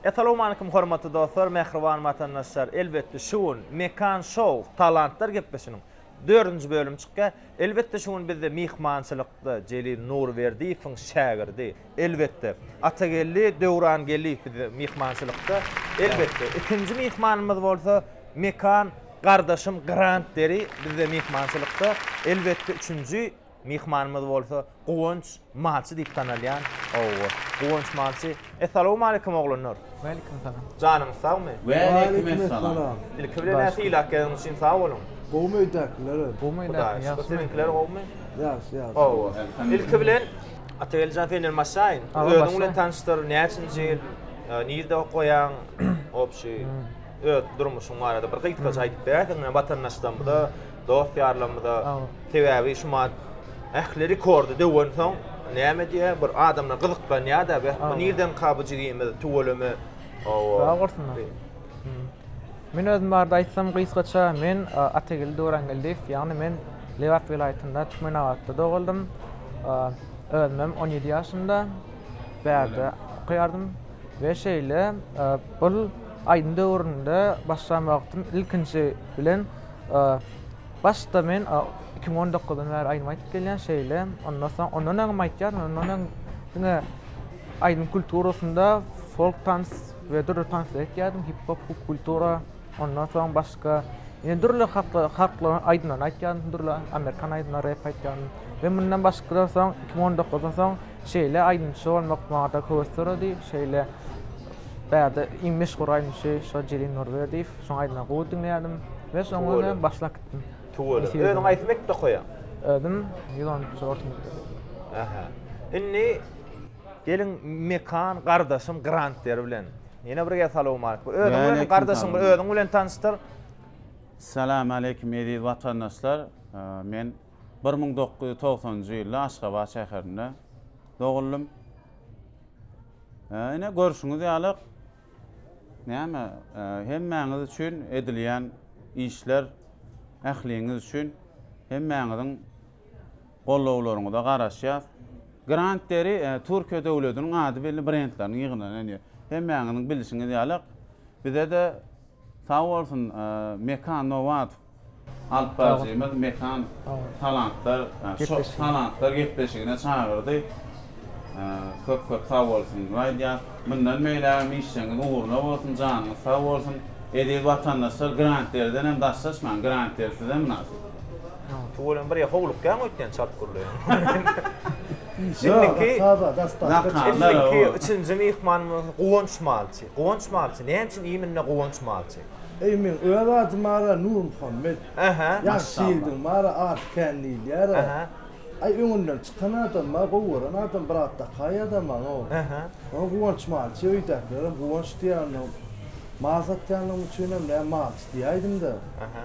Essalowmalikim hormatly dostlar, mähriban watandaşlar! Elbetde şu gün Mekan Show Talantlar gepleşiniň dördünji bölümi çykýar. Elbetde şu gün bizde myhmançylykda Jelil Nurberdiýewiň şägirdi, Elbetde. Atageldi Döwrangeldiýew bizde myhmançylykda. Elbetde. Ikinji myhmanymyz bolsa Mekan gardaşym Grant Deri bizde myhmançylykda. Elbetde üçünji myhmanymyz bolsa Guwanç Malçy diýip tanalýan oba. Guwanç Malçy. Essalawmaleýkim oglanlar. Waleýkim salam. Janyňyz sagmy? Waleýkim essalam. Ilki bilen näçe ýyl ak geldiňiz üçin sag boluň. Gowmy öýdäkiler? Gowmy öýdäkiler? Ýagşymy? Ýagşy ýagşy. Oba. Ilki bilen Atageldijan senden başlaýyn. Özüň bilen tanyşdyr, näçinji ýyl, nirde okaýaň, obşi öz durmuşyň barada bir gysgaça aýdyp berersiňmi watandaşlarymyza, dost-ýarlarymyza? Sebäbi şu mahat ähli rekordy döwensoň, näme diýýär, bir adamlar gyzyklanýar-da, bu nirdenka bu jigimiz, tüweleme? Hawa. Sag bolsunlar. Men özüm barada aýtsam gysgaça, men Atageldi Döwrangeldiýew, ýagny men Lebap welaýatynda Türkmenabatda doguldym. Özümem on ýedi ýaşymda bärde okaýardym we şeýle ol aýdyň döwründe başlan wagtym ilkinji bilen başda men iki müň on dokuzdan bäri aýdym aýdyp gelýän şeýle ondan soň ondan öňem aýdýardym ondan öň diňe aýdym kulturasynda folk tans we dürli tanslar etýärdim, hip-hop, popkultura, ondan soň başga ýene dürli halklar, halklaryň aýdymlaryny aýtýardym, dürli amerikan aýdymlary, rep aýtýardym we mundan başgadan soň, iki müň on dokuzdan soň şeýle aýdymçy bolmak maňa-da höwes döredi, şeýle bärde iň meşhur aýdymçy şo Jelil Nurberdiýew, şonuň aýdymlaryny gowy diňleýärdim we soňra men başlap gitdim. Tüweleme. Nesibe Özüň haýsy mekde okaýaň? Özüm ýüz onunjy orta mekdep. Ähä. Indi Geliň Mekan gardaşym Grant der bilen. Ýene bir gezdi salowmaleýk. Özüň bilen gardaşyň bir özüň bilen tanyşdyr. Salamaleýkim eziz watandaşlar. Men bir müň dokuz ýüz togsanynjy ýylda Aşgabat şäherinde doguldym. Ine görşüňiz ýaly näme hemmäňiz üçin edilýän işler ähliňiz üçin hemmäňiziň Gollawlaryňyza garaşýas. Grand Deri Türkiýe döwlediniň ady belli brendleriniň ýygynyny diýer. Hemmäňiziň bilişiňiz ýaly bize-de sag bolsun Mekan Nowadow alypbaryjymyz Mekan talantlar şo talantlar gepleşigine çagyrdy. Köp köp sag bolsun aýdýas. Mundan beýlägem işjeňiz ugruna bolsun janyňyz sag bolsun. Eziz watandaşlar Grand Deriden hem daşlaşmaň Grand Deri size mynasyp. Tüweleme bir ýa howlukýaň öýtýän çalt gürleýän. Indiki Indiki üçünji myhmanymyz Guwanç malçy. Guwanç malçy näme üçin iminne Guwanç malçy? Eý meň öz ady Mara Nurmuhammet. Ähä. Ýagşy ýigdiň Mara aty kän diýilýär. Ähä. Aý öňünden çykan adam bar, gowy gören adam bir at dakaý adama o. Ähä. Ony Guwanç malçy öýdäkilerem Guwanç diýýär onda. Mal satýanlygym üçinem näme malçy diýäýdim-de. Ähä.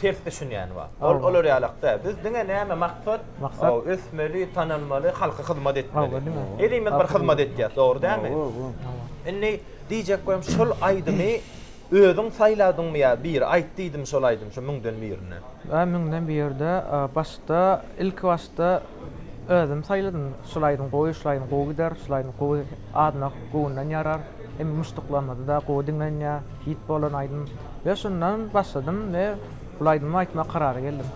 ters düşünýäni bar. Ol olar ýalak däl. Biz diňe näme maksat? Maksat ösmeli, tanalmaly, halka hyzmat etmeli. Elimiz bir hyzmat etýäs, dogry dälmi? Indi diýjek bolsam şol aýdymy özüň saýladyňmy ýa biri aýt diýdimi şol aýdymy şu müňden birine? Ä müňden birde başda ilki başda özüm saýladym. Şol aýdym gowy, şol aýdym gowy gider, şol aýdym gowy Adnak göwünden ýarar hem muşduklamada-da gowy diňlenýär, hit bolan aýdym. We şundan başladym we bul aýdymy aýtmak karara geldim.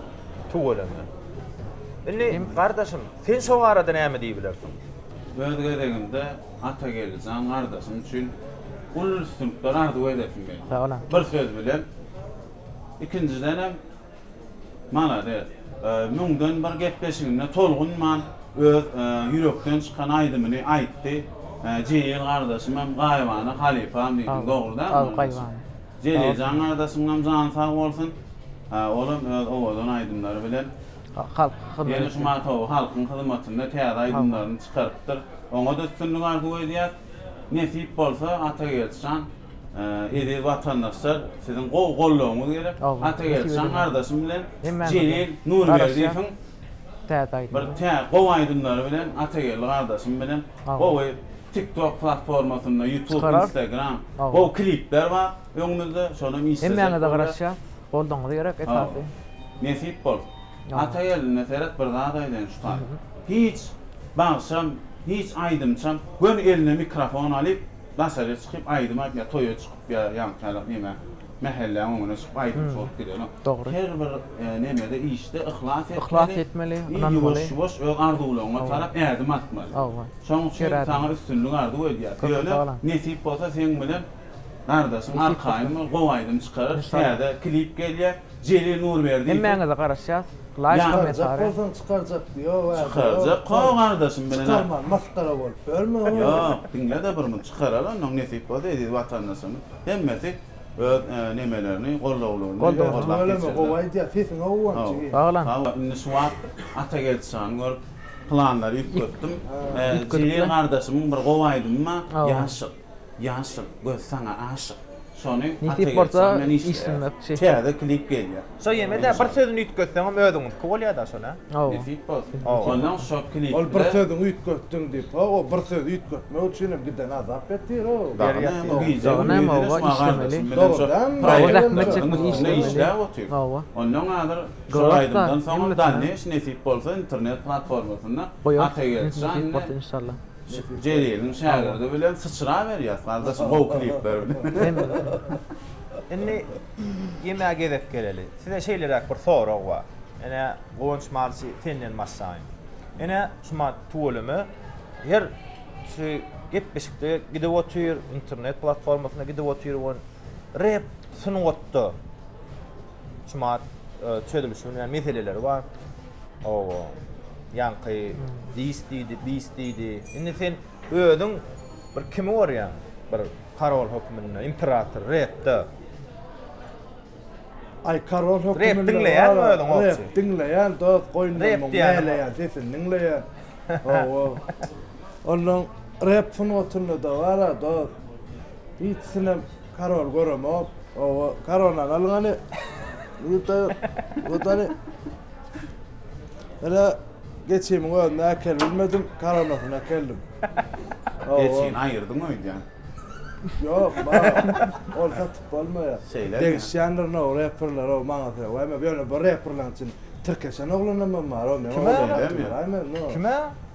Tüweleme. Indi gardaşym, sen şo barada näme diýibilersiň? Öz gezegimde Atageldijan gardaşym üçin uly üstünlikler arzuw edesim gelýär. Bir söz bilen, ikinjidenem, Malades. Müňden bir gepleşiginde tolgunman öz ýürekden çykan aýdymyny aýtdy. Jelil gardaşym hem gaýybana halypam diýdiň. Dogry däl mi onuň daşy? Jeliljan gardaşymyňam jany sag bolsun. Olam öz owadan aýdymlary bilen ýene şu matowy halkyň hyzmatynda täze aýdymlaryny çykarypdyr. Oňa-da üstünlik arzuw edýäs. Nesip bolsa Atageldi jan, eziz watandaşlar siziň gowy goldawyňyz gerek. Atageldi jan gardaşym bilen Jelil Nurberdiýewiň bir tä gowy aýdymlary bilen Atageldi gardaşym bilen gowy TikTok platformasynda YouTube, Instagram gowy klipler bar öňümizde şonam işlejek bolýas. Hemmäňize garaşýas. Goldawyňyz gerek esasy. Nesip bolsa. Atageldinden seret bir zat aýdaýyn şu taý. Hiç bagşam, hiç aýdymçam göni eline mikrofon alyp daşaryk çykyp aýdym aýdyp ýa toýa çykyp ýa ýaňkyýalak neme mähelläň öňüne çykyp aýdymçy bolup gidenok. Dogry. Her bir nemede işde yhlas etmeli. Yhlas etmeli, ynanmaly. Ýuwaş ýuwaş öz arzuwlaryňa tarap ädim atmaly. Hawa. Şoň üçin saňa üstünlik arzuw edýäs. Ýöne nesip bolsa seň bilen gardaşyň arkaýyn bol gowy aýdym çykarar. Täze klip gelýär. Jelil Nurberdiýew. Hemmäňize garaşýas laýk komentariý. Çykarjak bolsaň çykarjak diýip ýok ä. Çykarjak ko gardaşym bilen. Çykarman masgara bolup ýörme o. Ýok diňlede bir muny çykarar onnoň nesip bolsa eziz watandaşlarymyz hemmesi öz nemelerini gollawlaryny gollap geçirler. Tüweleme gowy aýdýar sesiňe guwan jigim. Sag ola. Indi şu wagt Atageldi şany görüp planlary üýtgetdim. Jelil gardaşymyň bir gowy aýdymy bar Ýaşyk. Ýaşyl göz saňa aşyk. Şony Nesip bolsa işlemek çek. Täze klip gelýär. Şo ýemede bir sözüni üýtgetseňem özüňiňki bolýada şol a. Nesip bolsun. Ondan şo klipde. Ol bir sözüňi üýtgetdiň diýip ho o bir sözi üýtgetmek üçinem giden azap etdir o. Dagy näme o gije gündüz näme işlemeli. Dogry zähmet çekmek işlemeli. Hawa. Ondan hazir şo aýdymdan soň Daniş nesip bolsa internet platformasynda Atageldi Şanly. Jeliliň şägirdi bilen syçra berýas gardaşym gowy klipler bilen. Indi ýemäge gezek geleli. Size şeýleräk bir sorag bar. Ene Guwanç Marsi senden başlaýyn. Ene şuma tüweleme her şu gepleşikde gidip otyr, internet platformasynda gidip otyr we rep sungatda Çumat çözülişi bilen meseleleri bar. Owo. Ýaňky dis diýdi, bis diýdi. Indi sen özüň bir kimi görýäň? Bir karol hökmünde, imperator, repde. Aý karol hökmünde. Rep diňleýäňmi özüň owçy? Rep diňleýän dos, goýnundan näleýän sesini diňleýän. Owo. Onuň rep sungatynda-da bar-a dos. Hiç sinem Karol göremok. Owo, Karoldan alyň hany. Ýurtda ýok. Ýurt hany. Ene geçimiň özüni äkel bilmedim, karonasyny äkeldim. Owo. Geçini aýyrdyň öýdýän. Ýok, ma, ol satyp bolmaýar. Şeýlemi? Degişýändirin ow reperler ow maňa sög. Waý men ýöne bir reperlaň içinde tirkeşen oglanam bar, ow meň Kime? oglanlarym Şeýlemi? bar, aý men, no. Kime?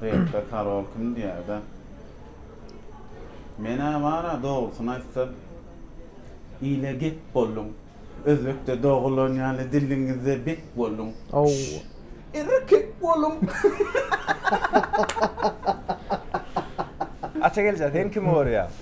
Reper Karol kim diýäýdä. Menä bara dogrusyny aýtsam ile gep bolduň. Özbekde dogulan ýaly diliňizde bek bolduň. Aww. Erkek boluň. Aça gelje sen kimi görýäň.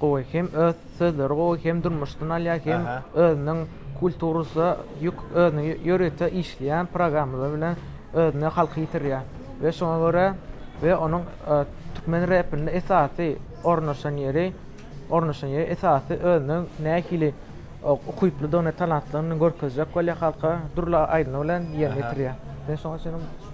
gowy hem öz sözleri gowy hem durmuşdan alýar hem özüniň kulturasy ýük özüniň ýörite işleýän programmalary bilen özüne halky ýitirýär we şoňa görä we onuň türkmen repinde esasy ornaşan ýeri ornaşan ýeri esasy özüniň nähili ukyplydygyny talantlygyny görkezjek bolýar halka dürli aýdymlar bilen ýerine ýetirýär men şoňa düşünip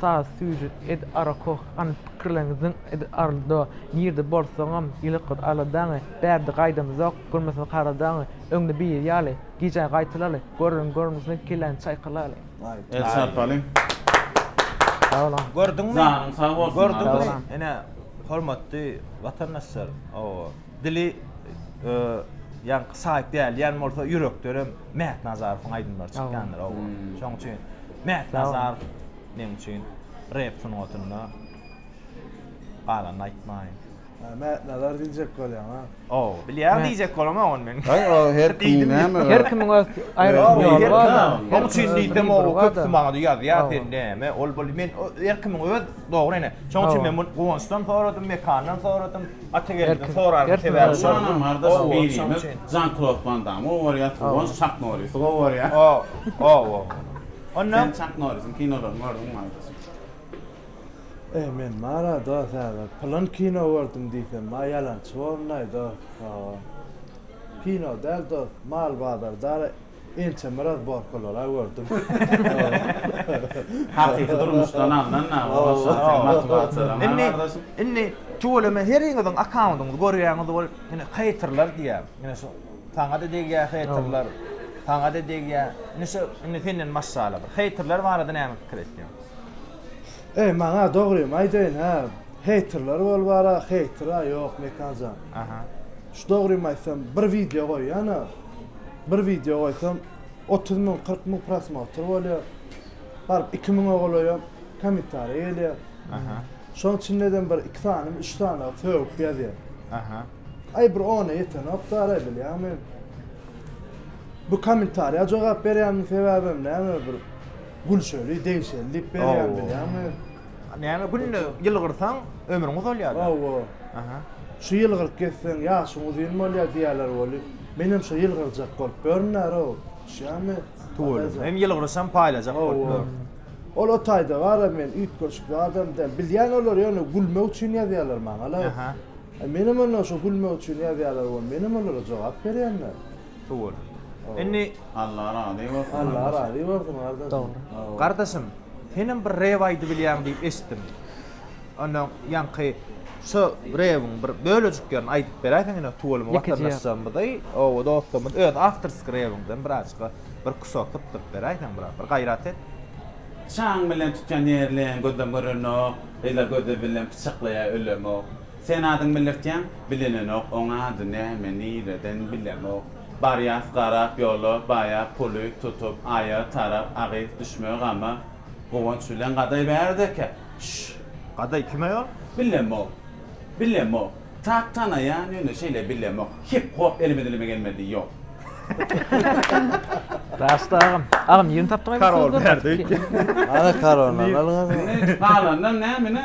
Saz Süýji Ed Arakoh Anyp pikirleň zyň ed Arldo Nirde bolsaňam Ýylykgyz Aladaňy Bärde gaýdamyzok Görmesin kara daňy Öňde biri ýaly Gijä gaýtalaly Görüň görmesin Kelläni çaýkalaly. El çarpalyň. Sag boluň. Gördüňmi? Janyň sag bolsun. Gördüňmi? Ine hormatly watandaşlar. Hawa. Dili ýaňky saýt däl ýan bolsa ýürekdenem Mäht Nazarowyň aýdymlary çykýandyr oba. Şoň üçin Mäht Nazarow meň üçin rep sungatynda galanyny aýtmaýyn. Mäht Nazar diýjek bolýaň ha. Ow, bilýän diýjek bolamok ony men. Aý o her kim näme. Her kimiň öz aýratyn ýoly bar. Oň üçin diýsem ow köpüsi maňa ýazýar sen näme ol bul men her kimiň öz dogry ene. Şoň üçin men bu Guwançdan soradym, Mekandan soradym. Atageldiň sorarynyň sebäbi şol. Şonam gardaş birimiz Jan-Klod Wan Damy owarýas, Guwanç Çak Norrisi gowarýar. Ow-ow-ow. Onda Sen Çak Norrisiň kinolaryny gördüňmi gardaş? Eý, men bar-a dost häzir. Pylan kino gördüm diýsem, maý ýalançy bolundaý dost. Hawa. Kino däl dost, mal bazardara Ençeme razborkalar-a gördüm. Hakyky durmuşdan alnan-a ol şahyryň motiwasiýalary ha gardaşym. Indi tüweleme heriňiziň akkaundyňyzy görýäňiz ol indi heýterler diýýär. Indi şu saňa-da degýär heýterler, saňa-da degýär. Indi şu indi senden maşgala bir heýterler barada näme pikir etýäň? Eý maňa dogrymy aýdaýyn hä, heýterler ol bar-a, heýter-a ýok Mekan jan. Aha. Şu dogrymy aýtsam bir wideo goýýan-a. Bir wideo goýsam otuz müň kyrk müň prosmotr bolýa baryp iki müňe golaýam kommentariýa gelýä şoň içindedem bir iki sany üç sany sögüp ýazýa aý bir ona ýetenok daraý bilýäňmi bu kommentariýa jogap berýäniň sebäbem näme bir gülşeli degişeli diýip berýän bilýäňmi näme günde ýylgyrsaň ömrüň uzalýa hawa şu ýylgyryp geçseň ýaşyň uzyn bolýa diýýäler weli. Menem şo ýylgyrjak bolup görünärow, düşýämi? Tüweleme, hem ýylgyryşam paýlajak bolup ýör. Ol o taýda bar-a, men üýtgeşik zadam däl. Bilýän olar ýöne gülmek üçin ýazýarlar maňa-la. Ähä. Menem onda şo gülmek üçin ýazýarlar we menem olara jogap berýän-le. Tüweleme. Indi. Allah razy bolsun. Allah razy bolsun gardaşym. Dogry. Gardaşym, senem bir rep aýdybilýäň diýip eşitdim. Onda ýaňky şu rewiň bir bölejiklerini aýdyp beräýseň ine tuweleme watandaşlarymyza i oba dostlarymyza öz awtorski rewiňden birazjyka bir kusok sypdyryp beräýseň biraz bir gaýrat et. Çaň bilen tutýan ýerleň gözem görenok, Ýyla gözi bilen pyçaklaýar ölemok. Sen adyň bildirtýäň, bilinenok, Oň ady näme, nireden bilemok. Barýas garap ýola, baýa puly tutup, Aýa tarap agyz düşme gama. Guwanç bilen Gadaý bärde eken. Şş! Gadaý kim aýol? Bilemok. Bilemok. Tak tanaýan, ýöne şeýle bilemok. Hip hop elime dilime gelmedi, ýok. Raşt agam. Agam ýerini tapdyňyzmy? Karol bärde öýtýär. Hany karollary alyň. Indi galandan näme ine?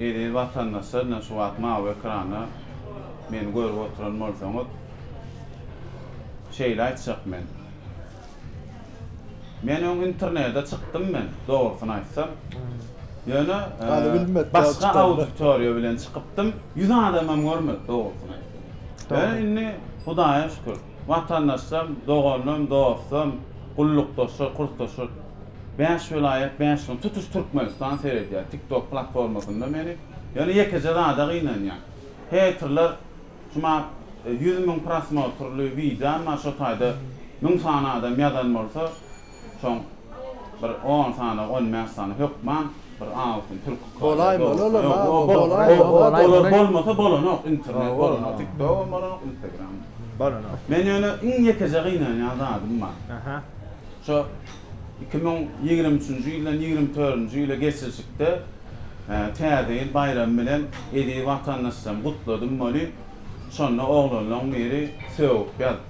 Eziz watandaşlar ine şu wagt mawy ekranda meni görüp oturan bolsaňyz şeýle aýtjak men. Men öň internede çykdym men dogrusyny aýtsam. Ýöne başga auditoriýa bilen çykypdym. Ýüz adamam görmedi dogrusyny aýtsam. Ýöne indi Hudaýa şükür. Watandaşlarym, doganlarym, dostlarym, gullukdaşlar, kursdaşlar! Bäş welaýat, bäş ýyl, tutuş Türkmenistan seredýär TikTok platformasynda meni. Ýöne ýekeje zada gynanýan. Heýterler şuma ýüz müň prosmotrly wideom bar, şo taýda müň sany adam ýazan bolsa, Şoň bir on sany, on bäş sany hökman bir altyn türki kary. Bolaýmy ol olam, a? Ýok, bolaýmy? Ýok, bolaýmy? Olar bolmasa bolanok, internet bolanok, tiktogram bolanok, instagram. Bolanok. Men ýöne iň ýekeje gynanýan zadym bar. Aha. Şo iki müň ýigrimi üçünji ýyldan ýigrimi törünji ýyla geçilişikde Täze ýyl baýramy bilen eziz watandaşlarmy gutladym welin, şonda oglanlaň biri sögüp ýazypdy.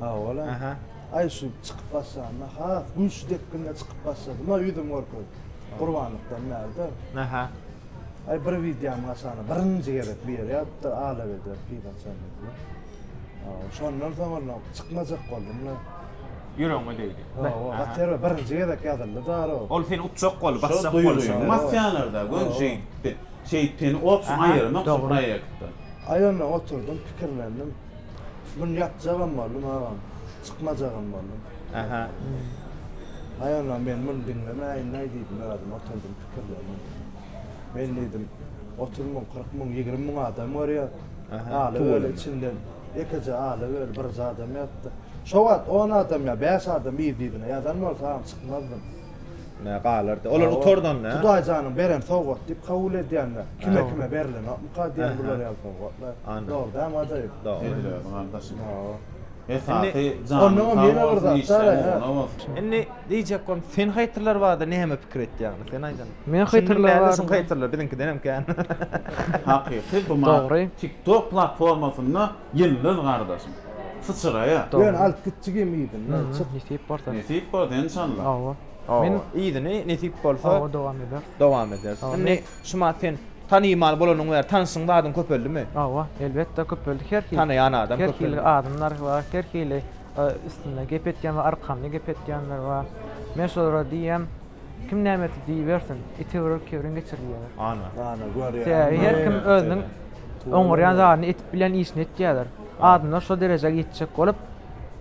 Hawa-la. Aha. Aý şu çykyp başlanda has güýçli depginde çykyp başladym, a ýüzüm görkezip. Gurbanlykdan bärde. Aha. Aý bir wideomyň aşagyna birinji gezek bir ýere ýazypdyr, Alap eder pigaçan diýip. Hawa, şondan soň onda çykmajak boldum-la. Ýüregiňe degdi. Hawa, gaty birinji gezek ýazyldy daro. Ol seni utjak boldy, basjak boldy. Şol duýgy mafiýalarda göni şeýtdi. Şeýteni opşum aýyrmak şu proýektden. Aý onda oturdym, pikirlendim. Şu gün ýatjagam boldum agam. Çykmajagam boldum. Aha. Aýalam men muny diňlemäýin-aý diýdim özüm oturdym pikirlendim. Men diýdim, otuz müň, kyrk müň, ýigrimi müň adam görýär. Aly öli içinde ýekeje Aly öli birje adam ýatdy. Şo wagt on adam ýa bäş adam yz-yzyna ýatan bolsa agam çykmazdym. Nä galardy? Olar gutardanda. Hudaý janyň beren sowgat diýip kabul edýänler. Kime kime berlenokmyka diýen bular ýaly sowgatlar. Dogry dämi ajaýyp. Dogry gardaşym. Esasy janyň sag bolsun işleň ugruna bolsun. Indi diýjek bolsam sen haýtyrlar barada näme pikir etýäňmi sen aýdan. Men haýtyrlar barada. Şuň haýtyrlar biziňkidenem kän. Hakyky bu mat tik tok platformasynda Ýyldyz gardaşym. Syçyraýa. Ýöne alyp gitjigim yzyny. Hum nesip bolsa. Nesip bolsa enşalla. Hawa. Men yzyny nesip bolsa. Hawa dowam ederis. Dowam ederis. Indi Şumat sen tanymal bolanyň bäri tanyşyň badyň köpeldimi? Hawa elbetde köpeldi her hili. Tanaýan adam köpeldi. Her hili adamlar bar her hili üstünde gep etýän bar arkamda gep etýänler bar. Men şolara diýýän Kim näme etdi diýibersin, itewerer kebrin geçirilýär. Ana. Ana, görýäňmi? Sebäbi her kim özüniň oňarýan zadyny edip bilen işini etýärler. Adamlar şo derejä ýetjek bolup,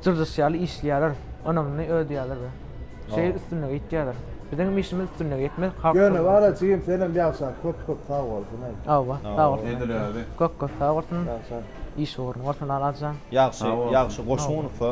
jyrjyş ýaly işleýärler, ynamly ödýärler we şeýle üstünlige ýetýärler. Biziň hem işimiz üstünlige ýetmek, halk hyzmaty. Ýöne bar-a jigim, senem ýagşa, köp-köp sag bolsun, aý. Hawa, sag bolsun. Edil özi. Köp-köp sag bolsun. Ýagşa. Iş ugruny bolsun Aladjan. Ýagşy, ýagşy goşgy unutsa.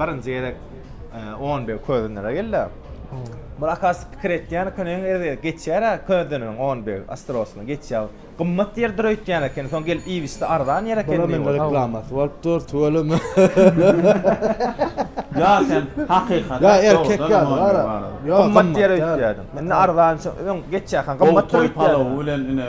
Birinji gezek on bir közenere geldi. Bir akas pikir etýän eken, öň gezek geçýär-ä közeneriň on bir asterosyna geçýär. Gymmat ýerdir öýtýän eken, soň gelip iýibişdi, arzan ýer eken diýip. Bula reklamasy bolup dur, tüweleme. Ýa sen hakykat. Ýa erkek ýaly bar-a. Gymmat ýer öýtýärdim. Indi arzan öň geçýärkä gymmatdyr öýtýärdim. Gowy toý palawy bilen ine.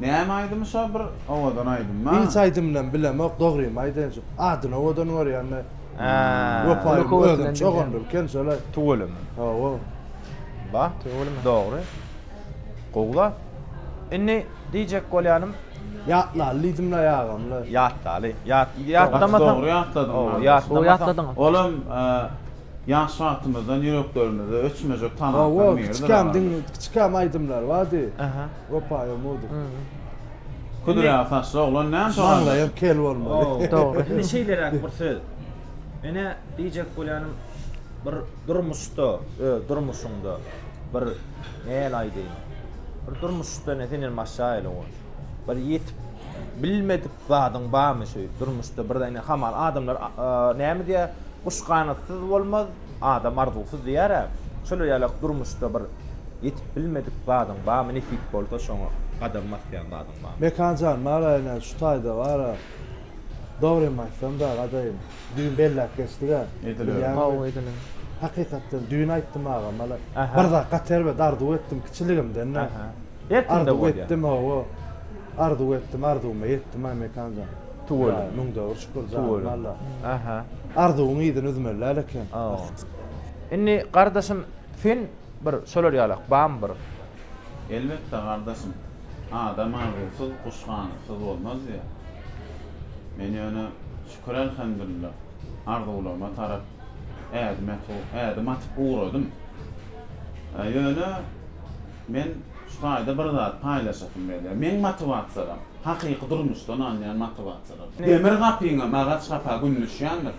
Näme aýdymy şo bir owadan aýdymmy. Hiç aýdymynam bilemok dogrymy aýdaýynçuk adyny owadan görýänme wepaýym özünçe ogundyr eken şolay. Tüweleme. Hawa. Ba. Tüweleme. Dogry. Gowy zat. Indi diýjek bolýanym. Ýatlaly diýdimle ýagamle. Ýatlaly. Ýat ýatlamasaň. Gaty dogry ýatladyň Magtymguly. Gowy ýatladyňyz. Olam ýaş wagtymyzdan ýüreklerimizde öçmejek tanapdan biridir. Hawa kiçikämdiň kiçikäm aýdymlar bardy. Opa ýomuduk. Küdüräk saçly oglan näme sorady? Maňlaýym kel bolmaly. Dogry. Indi şeýleräk bir söz. Menä diýjek bolýanym, bir durmuşda, öz durmuşyňda bir näl aýdaýyn, bir durmuşda ine senden başlaýa ele goý. Bir ýetip bilmedik zadyň barmy şeýdip durmuşda birden ine hamala adamlar näme diýýär, Guş ganatsyz bolmaz, Adam arzuwsyz diýär-ä. Şolar ýalak durmuşda bir ýetip bilmedik zadyň barmy, nesip bolsa şoňa gadam basýan zadyň barmy? Mekan jan bar-a ine şu taýda bar-a. Dogrymy aýtsam dag adaýym. Düýn belläp geçdik-ä. Edilere. Hawa edilere. Hakykatdan düýn aýtdym agam hala. Bir zat gaty erbet arzuw etdim kiçiligimden-de. Her kimde bolýar. Arzuw etdim hawa. Arzuw etdim arzuwyma ýetdim-aý Mekan jan. Tüweleme. Müň döwür şükür janym Alla. Aha. Arzuwyň yzyny üzmeli däl eken. Indi gardaşym sen bir şolar ýalak bamy bir. Elbetde gardaşym. Adam arzuwsyz, guş ganatyz bolmaz diýä. Men ýöne şükür elhemdulilla arzuwlaryma tarap ädim atyp ugradym. Ýöne Men şu taýda bir zat paýlaşasym gelýär. Meň motiwasiýalarym, hakyky durmuşdan alynýan motiwasiýalar. Demir gapyňam agaç gapa gündüşýändir.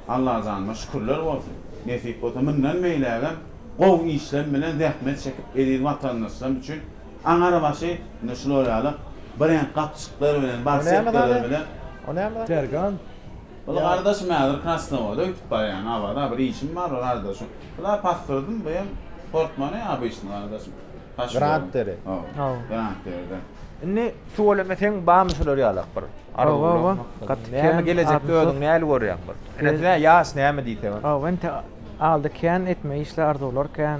Allajanyma şükürler bolsun. Nesip bolsa mundan beýlägem gowy işlem bilen zähmet çekip eziz watandaşlarym üçin aňar başy ine şular ýaly bireňk gapjyklar bilen, barsetkalar bilen. O näme zat? Sergant. Ol gardaşym häzir Krasnowoda öýtüp barýan Awa-da bir işim bar bir gardaşym. Bula passyrdym bu hem portmone obyçny gardaşym. Granteri. Hawa. Granteriden. Indi tüweleme seň barmy şular ýalak bir arzuwlaryň maksadyň? Näme gelejekde özüň näli görýäň bir? Ine size ýaş näme diýse bir. Hawa indi aldy kän etme işler arzuwlar kän.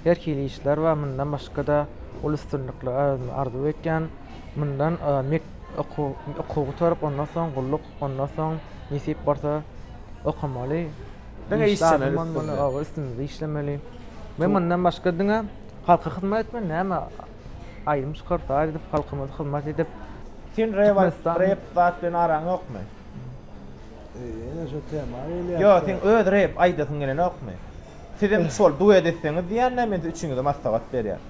Her hili işler bar, mundan başga-da uly üstünlikler özüme arzuw etýän. Mundan mek okuw gutaryp, ondan soň gulluk, ondan soň nesip bolsa okamaly. Diňe işlemeli üstünde. Oba üstümizde işlemeli. Men mundan başga diňe halka hyzmat etmeli, näme aýdym çykaryp, saz edip, halkymyza hyzmat edip. Sen rep zat bilen araň ýokmy? Ýene şo tema gelýär. Ýok, seň öz rep aýdasyň gelenokmy? Sizem şol duet etseňiz diýýänä men siz üçiňize maslahat berýän.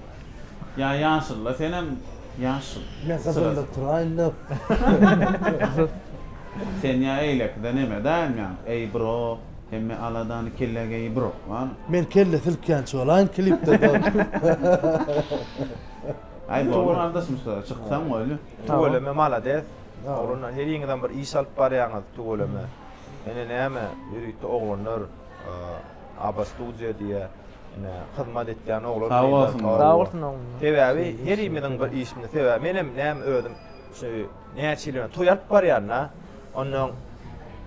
Ýa ýaşylla senem ýaşyl. Men gyzylda turaýynda. Sen ýa eýlekide neme daýynýaň eý bro hemme aladany kellä geý bro wano. Men kelle silkýänçi bolaýyn klipde dogry. Aý boldy gardaş Mustafa çyksaň bolýa. Tüweleme malades oglanlar heriňizem bir iş alyp barýaňyz tüweleme ene näme ýörite oglanlar. Aba Studio diýä ine hyzmat etýän oglan. Sag bolsun. Sag bolsun oglan. Sebäbi herimiziň bir işimiz sebäbi menem näme özüm şu näçe ýyl toý alyp barýan-da. Ondan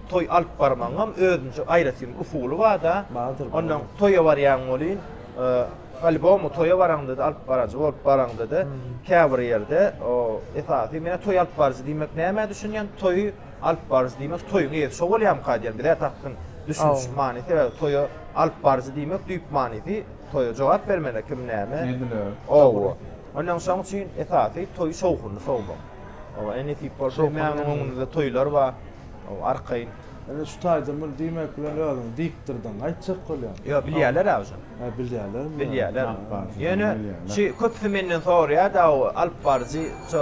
toý alyp barmagyňam özünçe aýratyn usuly bar-da. Bardyr. Ondan toýa barýan welin albomy toýa baraňda-da alyp barajy bolup baraňda-da käbir ýerde esasy men toý alyp baryjy diýmek nämä düşünýän toýy Alyp baryjy diýmek toýuň eýesi şo bolýamyka diýýän. Bizä tapgyn düşünişiň manysy sebäbi toýa alyp baryjy diýmek düýp manysy toýa jogap bermeli kim näme. Ediler. Hawa. Ondan şoň üçin esasy toýy şowhunly sowmak. Hawa e nesip bolsa emmämiň öňünde toýlar bar. Hawa arkaýyn. Ine şu taýda muny diýmek bilen özüňi dikdirdiň aýtjak bolýan. Ýok bilýärlerä uje. Hä bilýärlermi? Bilýärler. Ýöne şu köpüsi menden soraýarda o alyp baryjy şo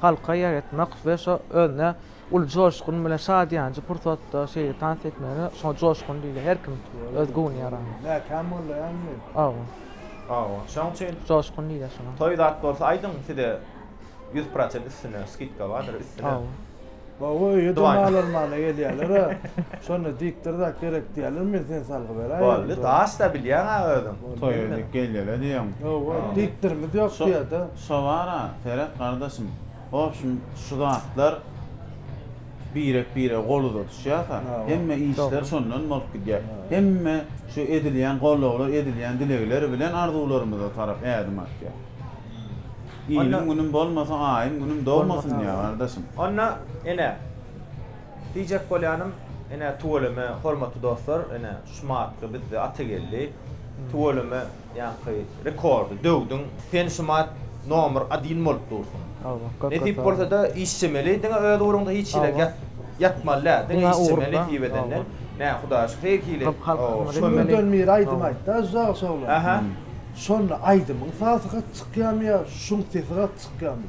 halka ýaýratmak we şo özüne uly joşgun bilen şat ýanjy pursatda şeýle tans etmegine şoňa joşgun diýilýär her kim öz göwni ýarany. Mäkäm mollaýamy? Hawa. Hawa. Şoň üçin. Joşgun diýilýär şoňa. Toý zat bolsa aýdyň size ýüz prosent üstüne skidka bardyr üstüne. Hawa. Hawa öýe domalarmana gelýärlera şonda diýipdir zat gerek diýýärler men seni salgy beräýerin. Boldy daş da bilýäňa özüň. Toýa gelýäler diýýäň. Hawa diýipdirimiz ýok diýýärde. Şobara seret gardaşym. Wobşem şu zatlar birek birege gol uzadyshyasa hemme işler şondan bolup gidýär. Hemme şu edilýän gollawlar edilýän dilegler bilen arzuwlarymyza tarap ädim atýar. Iliň günüm bolmasa aýym günüm dogmasyn diýýär gardaşym. Onda ene diýjek bolýanym ene tüweleme hormatly dostlar ene şu matly bizde Atageldi tüweleme. Ýaňky rekordy döwdüň. Sen şumat nomer adin bolup dursuň. Nesip bolsada işjemeli diňe öz ugruňda hiç hile ýat ýatmaly däl diňe işjeme nesip edenden nä hudaý şu heý hili Şundan biri aýdym aýtda Žagyş oglan şonda aýdymyň sasy gaty çykýamy ýa şuň sesi gaty çykýamy.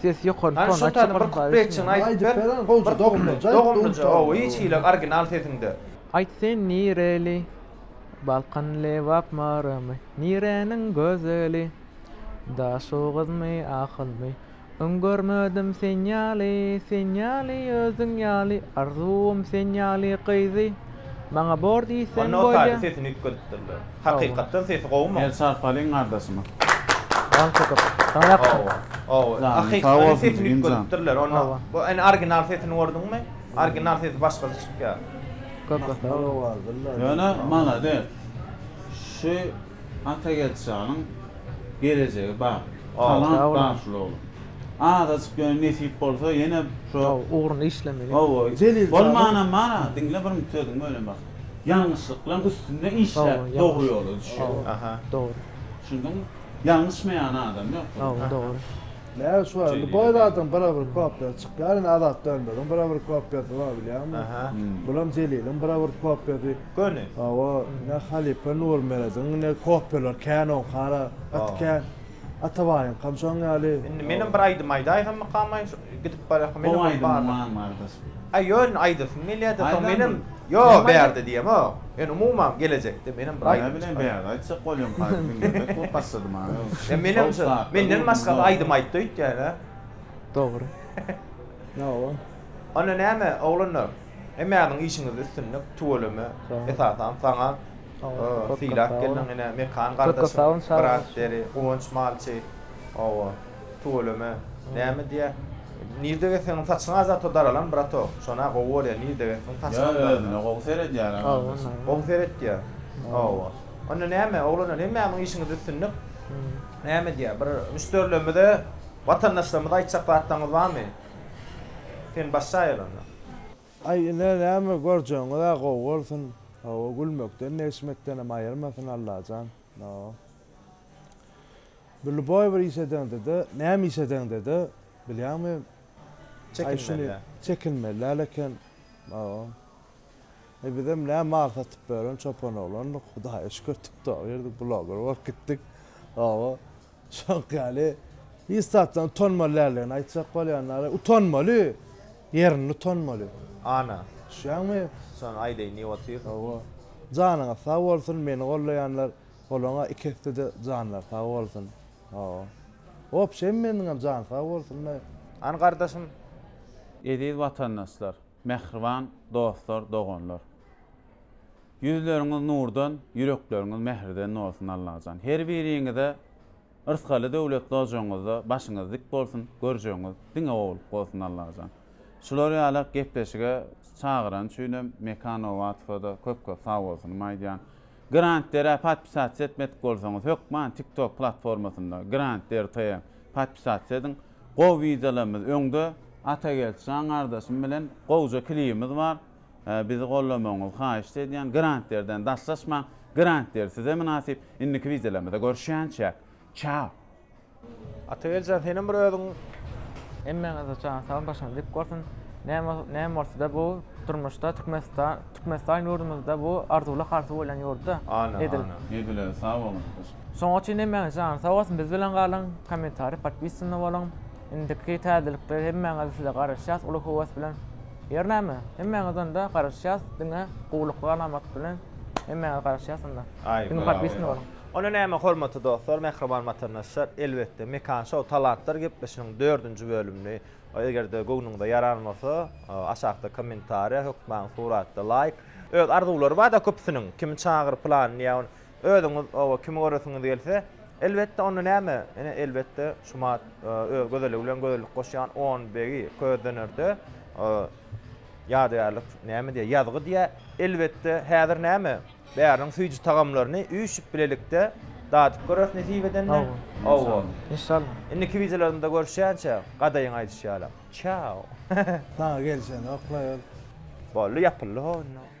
Ses ýokary ton açyp goýsaň gowy bolýar. Aýt sen nireli? Balkan Lebap Marymy? Nireniň gözeli? Daşoguzmy Ahylmy? Öň görmedim sen ýaly, sen ýaly özüň ýaly Arzuwym sen ýaly gyzy. Maňa bor diýseň bolýa. Onda Otaýda sesini üýtgedipdirler. Hakykatdan sesi gowumy? Gel çarpalyň gardaşyma. Hawa. Hawa. Hakykatdan sesini üýtgedipdirler. Onda bu ene orginal sesini gördüňmi? Orginal sesi başgaça çykýar. Köp sag bol. Ýöne malades. Şu Atageldi şanyň gelejegi bar. Talant bar şul oglan. Azajyk ýöne nesip bolsa ýene şo ugruny işlemeli. Hawa, bolmanam bar-a, diňle bir mut sözüň bölem bak. Ýalňyşlyklaň üstünde işläp dogry ýola düşýär. Aha. Dogry. Düşündiňmi? Ýalňyşmaýan adam ýok bu. Hawa, dogry. Näme şu indi boý zadyň bire-bir kopýasy çykýar indi Azat Dönmeziň bire-bir kopýasy bar bilýäňmi? Aha. Bulam Jeliliň bire-bir kopýasy. Göni. Hawa, ne halypa Nurmerediň, ne kopýalar kän oň, hara, gaty kän. Atabaýyňkam şoň ýaly. Indi menem bir aýdym aýdaýsammykamay, şu gidip barýarkam menem bir bar. Gowy aýdymyň bar bardaş. Aý ýöne aýdasym gelýärdi, soň menem ýok bärde diýemok. Ýöne umuman gelejekde menem bir aýdym. Näbileýin bärde aýtjak bolýan paýda diňlemek bolup başlady maňa. Ýa menem şu menden başgasy aýdym aýtdy öýtýän-ä. Dogry. Hawa. Onda näme oglanlar? Hemmäňiň işiňizde üstünlik, tüweleme, esasan saňa sylap gelniň ine Mekan gardaşyň brat deri, Guwanç malçy, hawa, tüweleme, näme diýýä, nirde gezseňem saçyňa zato daralan bratok, şona gowy bolýa nirde gezseň saçyňam daralan. Ýa özüne gowy seredýär a gardaşym. Gowy seretýär. Hawa. Onda näme oglanlar hemmäňiň işiňizde üstünlik. Näme diýýä, bir müşderilerimize, watandaşlarymyza aýtjak zatlaryňyz barmy? Sen başy aýylanda. Aý ine näme görjegiňizä gowy bolsun hawa gülmekden negşmekdenem aýyrmasyn Allajan hawa bir luboý bir iş edeňdede näme iş edeňdede bilýäňmi aý şuny çekinmeli äl eken hawa e bizem nä mal satyp ýören çopan oglandyk hudaýa şükür tiktoger bloger bolup gitdik hawa Şoňk ýaly, hiç zatdan utanmaly däldigini aýtjak bolýanlara, utanmaly, ýerinde utanmaly. Ana. Düşýäňmi? Şony aýdaýyn diýip otyr. Hawa. Janyňyz sag bolsun, meni gollaýanlar, olaňa iki esse-de janlary sag bolsun. Hawa. Hop, şem meniňem jany sag bolsun-da. An gardaşym, eziz watandaşlar! Mähriban dostlar, doganlar. Ýüzleriňiz nurdan, ýürekleriňiz mähirden bolsun Allajan. Her biriňize yrsgaly döwletli ojagyňyzda başyňyz dik bolsun, görjegiňiz diňe gowulyk bolsun Allajan. Şular ýalak gepleşige çagyrany üçinem Mekan Nowatowa-da köp-köp sagbolsunymy aýdýan. Grantdere podpisasiýa etmedik bolsaňyz, hökman TikTok platformasynda Grantdere TM podpisasiýa ediň. Gowy wideolarymyz öňde Atageldi jan gardaşym bilen gowja klibimiz bar bizi gollamagyňyzy haýyşt edýän grantlerden daşlaşmaň grantler size mynasyp indiki wideolarymyzda görüşýänçäk çao. Atageldi jan senem bir özüň. Hemmäňize jan saglyk başyňyz dik bolsun näme bolsada bu durmuşda Türkmenistan Türkmenistan ýurdumyzda bu arzuwly harsy bolýan ýurtda edil. Edil özi sag boluň. Şoňa çyn hemmäňiz janyz sag bolsun biz bilen galyň kommentariý podpisany boluň indiki täzelikleri hemmäňiz size garaşýas uly höwes bilen ýer näme hemmäňiz onda garaşýas diňe gowlukly alamat bilen hemmäňiz garaşýas onda diňe podpisany boluň. Onda näme hormatly dostlar mähriban watandaşlar elbetde Mekan show talantlar gepleşiginiň dördünji bölümini egerde göwnüňize ýaran bolsa aşakda kommentariýa hökman suratda laýk öz arzuwlary barda köpüsiniň kimi çagyr pylan diýä Özüňiz oba kimi göresiňiz gelse, elbetde, onda näme, ine, elbetde, Şumat öz gözelligi bilen gözellik goşýan on begi közdönerde ýadygärlik näme diýýär, ýazgy diýýär. Elbetde, häzir näme, bäriniň süýji tagamlaryny üýşüp bilelikde dadyp göreris nesip edende. Hawa, inşallah. Indiki wideolarymda görüşýänçä, gadaýyň aýdyşy ýalam, çao! Saňa gelişenok-laý ol. Boldy, ýapyldy-how indi.